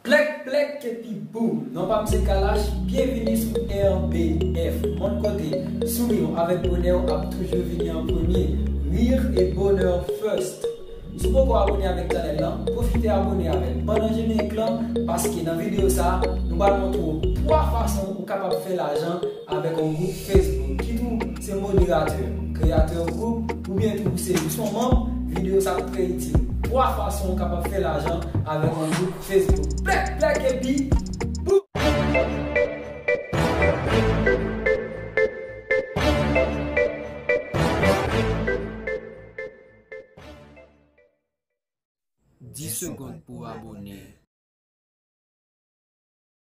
Plèk plèk kepi boom non pam se kalash byenvini sou RBF mond kote souriw avèk bonèw ap toujou vini an premye rirr e bonheur first sou poko abone avèk channel lan profite abone avèl pandan jenerik lan paske nan video sa nou pral montrew 3 fason ou kapab fè lajan Avèk yon gwoup Facebook, kit ou se moderatè, kreyatè kontni, oubyen tou ou se jis yon manm, videyo sa ap trè itil. 3 fason ou kapab fè lajan avèk yon gwoup Facebook. Plèk plèk epi boum! 10 segond pou abone.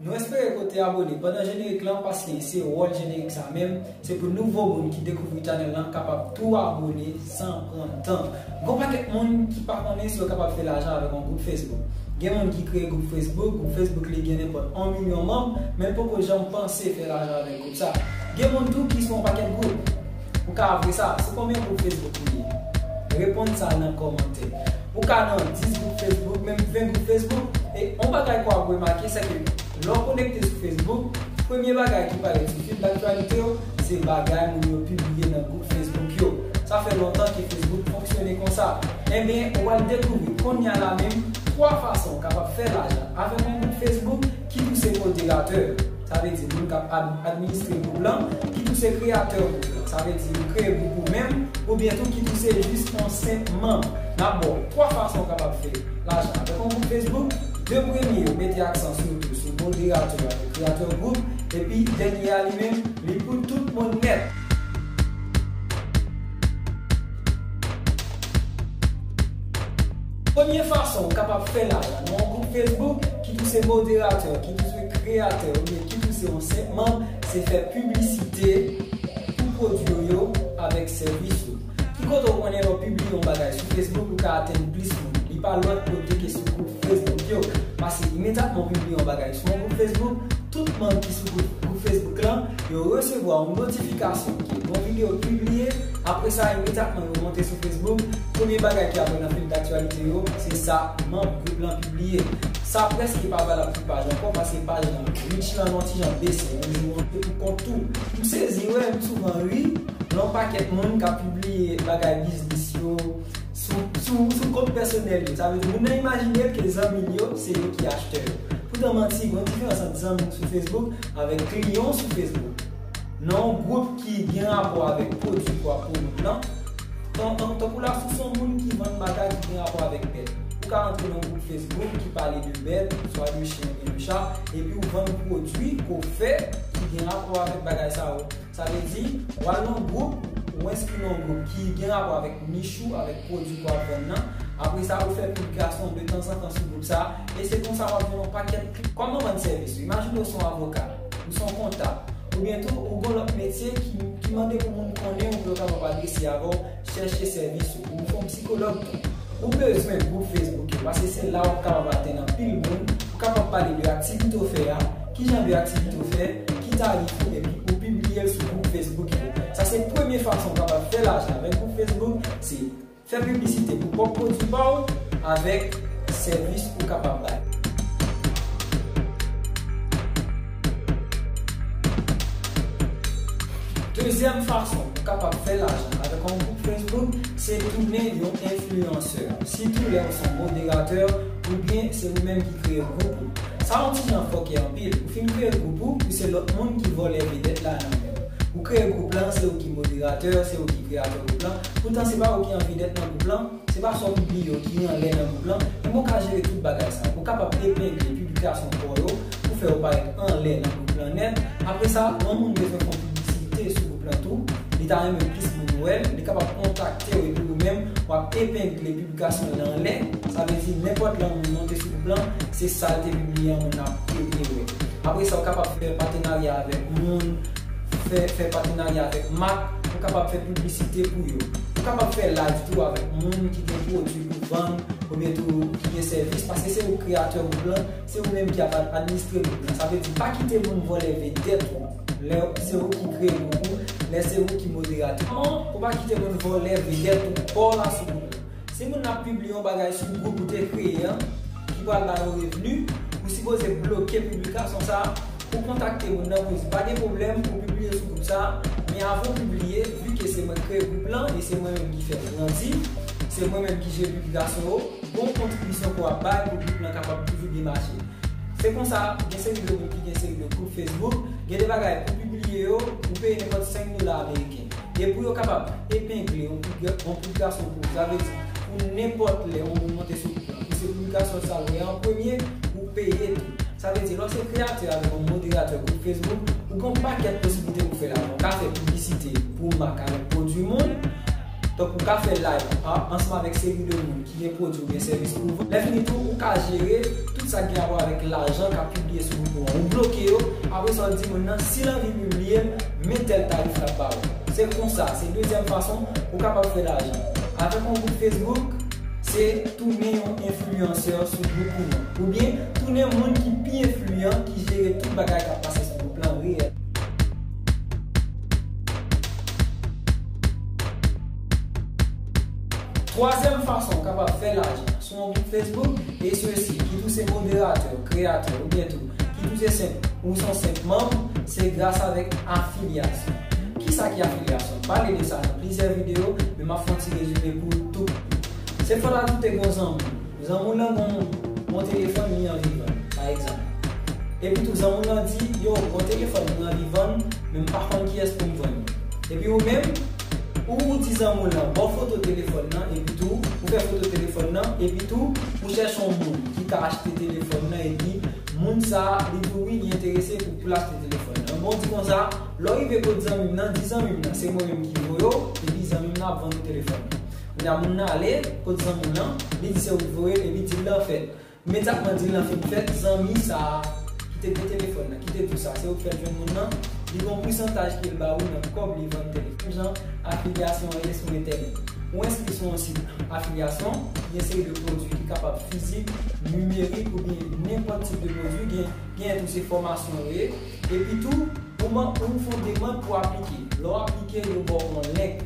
Nou espere ke w te abone pandan jenerik lan paske se wòl jenerik sa menm, se pou nouvo moun ki dekouvri chanèl lan kapab tou abone san pran tan. Gon pakèt moun ki pa konnen si yo kapab fè lajan avèk yon gwoup Facebook. Gen moun ki kreye gwoup Facebook, gwoup Facebook li gen nenpòt 1 milyon manm, men l poko janm panse fè lajan avèk gwoup sa. Gen moun tou ki sou yon pakèt gwoup. Ou ka avwe sa, se konbyen gwoup Facebook ou ye? Reponn sa nan kòmantè. Ou ka nan 10 gwoup Facebook, menm 20 gwoup Facebook, e yon bagay ke w ap remake se ke lè w konekte sou Facebook, premye bagay ki parèt sou fil daktyalite w, se bagay moun yo pibliye nan gwoup Facebook yo. Sa fè lontan ke Facebook fonksyone konsa. Enben, ou al dekouvri konnya la menm 3 fason w kapab fè lajan avèk yon gwoup Facebook ki tou se moderatè. Sa vle di moun k ap administre gwoup lan, ki tou se kreyatè gwoup lan. Sa vle di ou kreye gwoup ou menm, oubyen tou ki tou se jis yon senp manm. N ap ba w 3 fason ou kapab fè lajan avèk yon gwoup Facebook. 2 premye yo mete aksan sitou sou moderatè a ki kreyatè gwoup, epi dènye a li menm, li pou tout moun nèt. Premye fason ou kapab fè la a, nan yon gwoup Facebook, kit ou se moderatè, kit ou se kreyatè oubyen kit ou se yon senp manm, se fè piblisite pou pwodwi w yo avèk sèvis ou. Ki kote ou konnen lè w pibliye yon bagay sou Facebook ou ka atenn plis moun? Li pa lòt kote ke sou gwoup Facebook yo. Pase imedyatman ou pibliye yon bagay sou yon gwoup Facebook, tout manm ki sou gwoup Facebook lan, yo resevwa yon notifikasyon ke yon videyo pibliye, apresa imedyatman yo monte sou Facebook, Premye bagay ki apare nan fil daktyalite yo, se sa manb gwoup lan pibliye. Sa prèske pa valab sou paj ankò paske paj lan reach lan yon ti jan bese, yon jou ou te pou kont tou. M sezi wè, m souvan ri, lè yon pakèt moun ka pibliye bagay biznis yo sou kont pèsonèl yo. Sa vle di moun nan imajine ke zanmi l yo se yo ki achtè yo. Poutan manti, gen yon diferans ant zanmi w sou Facebook avèk kliyan w sou Facebook. Nan yon gwoup ki gen rapò avèk pwodui pou ap pwomouv lan, tan, tankou la si w se yon moun ki vann bagay ki gen rapò avèk bèt, ou ka antre nan yon gwoup Facebook ki pale de bèt, swa de chen oubyen de cha, epi w vann pwodui ke w fè ki gen rapò avèk bagay sa yo. Sa vle di, w al nan yon gwoup, ou enskri nan yon gwoup ki gen rapò avèk nich ou, avèk pwodui ke w ap vann lan, apre sa ou fè piblikasyon detanzantan sou gwoup sa, e se konsa w ap jwenn yon pakèt. Kòman vann sèvis ou? Imajine w se yon avoka. Ou se yon kontab. Oubyen tou ou gon lòt metye ki mande pou moun konnen ou pou yo kapab adrese avè w, chèche sèvis ou. Ou se yon psikològ tou. Ou bezwen gwoup Facebook yo paske se la w ap kapab atenn anpil moun pou kapab pale de aktivite w fè a, kijan de aktivite w fè, ki tarif ou epi ou pibliye l sou gwoup Facebook yo. Sa se premye fason ou kapab fè lajan avèk gwoup Facebook se. Fè piblisite pou pwòp pwodui pa w avèk sèvis ou kapab bay. Dezyèm fason ou kapab fè lajan avèk yon gwoup Facebook se tounen yon enfliyansè, sitou lè ou se yon moderatè oubyen se ou menm ki kreye gwoup ou. Sa yon ti jan fòkè anpil, ou fin kreye gwoup ou, pou se lòt moun ki vòlè vedèt la nan men w. Ou kreye gwoup lan, se ou ki moderatè, se ou ki kreyatè gwoup lan, Poutan se pa ou ki an vedèt nan gwoup lan, se pa sa w pibliye yo ki anlè nan gwoup lan, men bon w ka jere tout bagay sa yo. Ou kapab epengle piblikasyon pa w yo pou fè yo parèt anlè nan gwoup lan nèt. Apre sa, lè yon moun bezwen fon piblisite sou gwoup lan tou, li ta renmen plis moun wè l, li kapab kontakte w epi ou menm w ap epengle piblikasyon li anlè. Sa vle di nenpòt lè yon moun monte sou gwoup lan, se sa l te pibliye an moun ap epengle. Apre sa, ou kapab fè patenarya avèk moun. fè fè patenarya avèk mak, ou kapab fè piblisite pou yo. Ou kapab fè live tou avèk moun ki gen pwodwi pou vann oubyen tou ki gen sèvis paske se ou k kreyatè gwoup lan, se ou menm ki ap administre gwoup lan. Sa vle di pa kite moun vòlè vedèt ou lè se ou ki kreye gwoup ou, lè se ou ki moderatè an, ou pa kite moun vòlè vedèt ou paw la sou gwoup lan. Si moun nan ap pibliye yon bagay sou gwoup ou te kreye an ki pral ba yo revni, ou sipoze bloke piblikasyon sa a pou w kontakte moun nan pou l di pa gen pwoblèm ou pibliye sou gwoup sa a, men avan w pibliye, vi ke se mwen k kreye gwoup lan e se mwen menm ki fè l grandi, se mwen menm ki jere piblikasyon yo, gon kontribisyon ke w ap bay pou gwoup lan kapab toujou byen mache. Se konsa, gen seri de moun ki gen seri de gwoup Facebook, gen de bagay pou pibliye yo, ou peye nenpòt 5 dola ameriken. E pou yo kapab epengle yon pil gason kou w, sa vle di pou nenpòt lè yon moun monte sou pil la, pou se pil gason sa l wè an premye, ou peye li. Sa vle di lè w se kreyatè avèk yon moderatè gwoup Facebook, ou gen yon pakèt posiblite pou w fè lajan. Ou ka fè piblisite pou mak avèk pwodui moun, tankou w ka fè live ansanm avèk seri de moun. gen pwodwi oubyen sèvis pou vann. Lèfini tou, ou ka jere tout sa k gen rapò avèk lajan k ap pibliye sou group ou an. Ou bloke yo, apre sa ou di moun nan si l anvi pibliye l, men tèl tarif l ap ba ou. Se konsa, se dezyèm fason ou kapab fè lajan. Avèk yon gwoup Facebook, se tounen yon enfliyansè sou gwoup ou an. Oubyen, tounen moun ki pi enfliyan ki jere tout bagay k ap pase sou gwoup lan reyèlman. Twazyèm fason w kapab fè lajan sou yon gwoup Facebook e sesi, kit ou se moderatè, kreyatè oubyen tou kit ou se senp ou son senp manm, se gras avèk afilyasyon. Kisa ki afilyasyon? M pale de sa nan plizyè videyo, men m ap fè yon ti rezime pou ou tou piti. Se fòt ajoute gon zanmi w. Zanmi w lan gon bon telefòn li anvi vann, pa egzanp. Epi tou zanmi w lan di, yo, gon telefòn mwen anvi vann, men m pa konn kiyès pou m vann li. Epi ou menm, Ou ou di zanmi w lan ba w foto telefòn nan epi tou ou fè foto telefòn nan epi tou ou chèche yon moun ki ka achte telefòn nan epi moun sa li di w wi li enterese pou pou l achte telefòn nan ebyen w di konsa lè w rive kot zanmi m nan di zanmi m nan se mwen menm ki voye w epi zanmi m nan ap vann ou telefòn nan kounye a moun nan ale kot zanmi w lan li di se ou ki voye l epi dil lan fèt Men sak pran Dylan fin fèt zanmi sa ki te gen telefòn nan ki te diw sa se ou ki fèl jwenn moun nan li gon pousantaj kel ba ou nan kòb li vann tèl ki jan afilyasyon an ye sou entènèt ou enskri sou yon sit afilyasyon ki gen seri de pwodwi ki kapab fizik, nimerik oubyen nenpòt tip de pwodwi gen gen tou se fòmasyon yo ye. Epitou, pouman pou ou fon demand pou aplike. Lè w aplike, yo ba w yon link.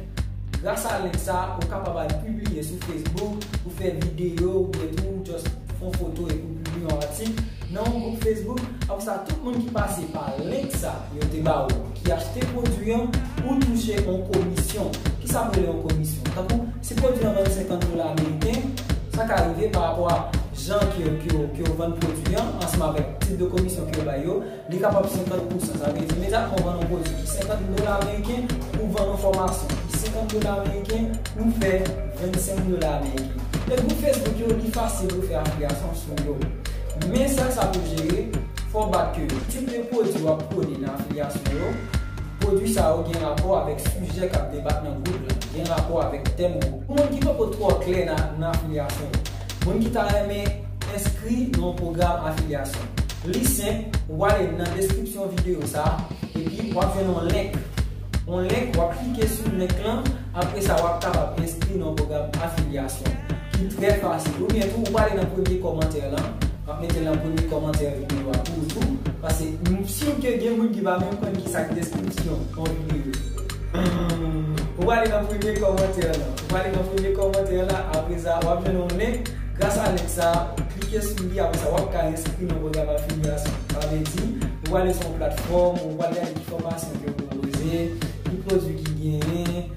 Gras a link sa, ou kapab al pibliye sou Facebook, ou fè videyo oubyen tou ou just fon foto epi w pibliye yon atik nan yon gwoup Facebook. Apre sa, tout moun ki pase pa link sa yo te ba ou, ki achte pwodwi an, ou touche yon komisyon. Kisa m rele yon komisyon? Tankou. Si pwodwi an vann 50 dola ameriken, sa ka rive pa rapò a jan ke yo vann pwodwi an ansanm avèk tip de komisyon ke yo bay yo, li kapab 50 pousan. Sa vle di imediatman ou vann yon pwodwi pou 50 dola ameriken, ou vann yon fòmasyon pou 50 dola ameriken, ou fè 25 dola ameriken. E gwoup Facebook yo, li fasil pou fè afiliasyon sou yo. Men sa sa pou jere, fò w bat ke tip de pwodwi w ap pwone nan afiliasyon yo, Pwodwi sa yo gen rapò avèk sijè k ap debat nan gwoup la, gen rapò avèk tèm gwoup la. Pou moun ki poko twò klè nan afilyasyon yo, moun ki ta renmen enskri nan yon pwogram afilyasyon, li senp, ou prale nan deskripsyon videyo sa a, epi w ap jwenn yon link, yon link, w ap klike sou link lan. Apre sa, w ap kapab enskri nan pwogram afilyasyon ki trè fasil. Oubyen tou, ou pa ale nan premye kòmantè lan, m ap mete l nan premye kòmantè videyo a pou ou tou, pase m sur ke gen moun ki pa menm konn ki sa k deskripsyon yon videyo. Ou ale nan premye kòmantè lan. Ou ale nan premye kòmantè lan, apre sa, w ap jwenn yon lenk. Gras a lenk sa a, ou klike sou li, apre sa, w ap ka enskri nan pwogram afilyasyon. Sa vle di, ou ale sou yon platfòm, ou pral gade ki fòmasyon ke yo pwopoze. Ki pwodwi ki genyen.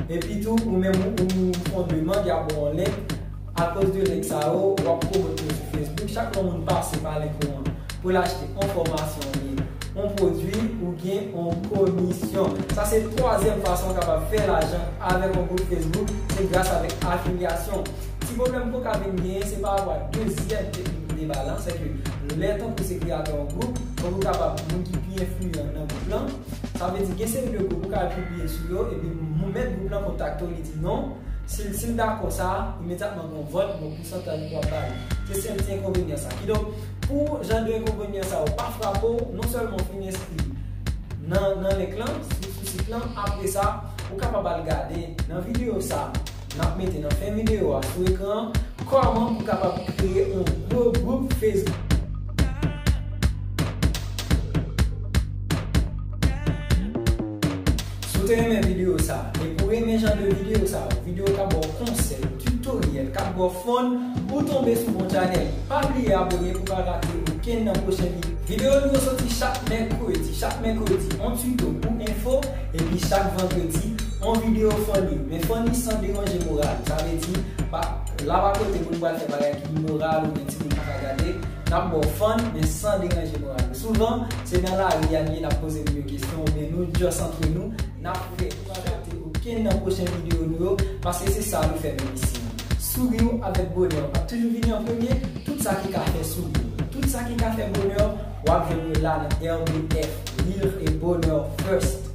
Epi tou ou menm ou fon demand ya ba w link akoz de link sa yo wap pwomote yo sou Facebook chak lè yon moun pase pa link ou an pou l achte yon fòmasyon oubyen yon pwodwi ou gen yon komisyon. Sa se twazyèm fason ou kapab fè lajan avèk yon gwoup Facebook se gras avèk afilyasyon. Ti pwoblèm pou w ka vin genyen se parapwa dezyèm teknik ou te bay la sèke lè tankou se kreyatè yon gwoup fòk ou kapab moun ki pi enfliyan nan gwoup lan. Sa vle di gen seri de gwoup ou ka al pibliye sou yo epi mèt gwoup lan kontakte w li di non, si l si l dakò sa, imedyatman gen yon vòt, gen yon pousantaj pou wap ba li. Se sèl ti enkonvenyan sa. Kidonk, pou jan de enkonvenyan sa yo pa frape w, non sèlman ou fin enskri nan nan link lan, sou sit lan, apresa ou kapab al gade nan videyo sa. n ap mete nan fen videyo a sou ekran an, kòman pou kapab kreye yon gwo gwoup Facebook. Si w te renmen videyo sa a, epi w renmen jan de videyo sa yo, videyo k ap ba w konsèy, tutoriel, k ap ba w fon, ou tonbe sou bon chanèl, pa bliye abone pou w pa rate okenn nan pwochen videyo. Videyo nou yo soti chak mèkredi, chak mèkredi yon tuto ou enfo, epi chak vandredi. On video funny, men funny san deranje moral. Sa vle di, pa la pa kote pou nou pral fè bagay ki imoral oubyen timoun pa ka gade. N ap ba w fun, men san deranje moral ou. Souvan, se nan lari a n ye, n ap poze moun yo kesyon oubyen nou just antre nou. N ap fè pou pa rate okenn nan pwochen video nou yo, paske se sa nou fè menm isi. Souri w avèk bonè w ap toujou vini an premye, tout sa ki ka fè souri w, tout sa ki ka fè bonè w, w ap jwenn yo la nan RBF, Rire et Bonheur First.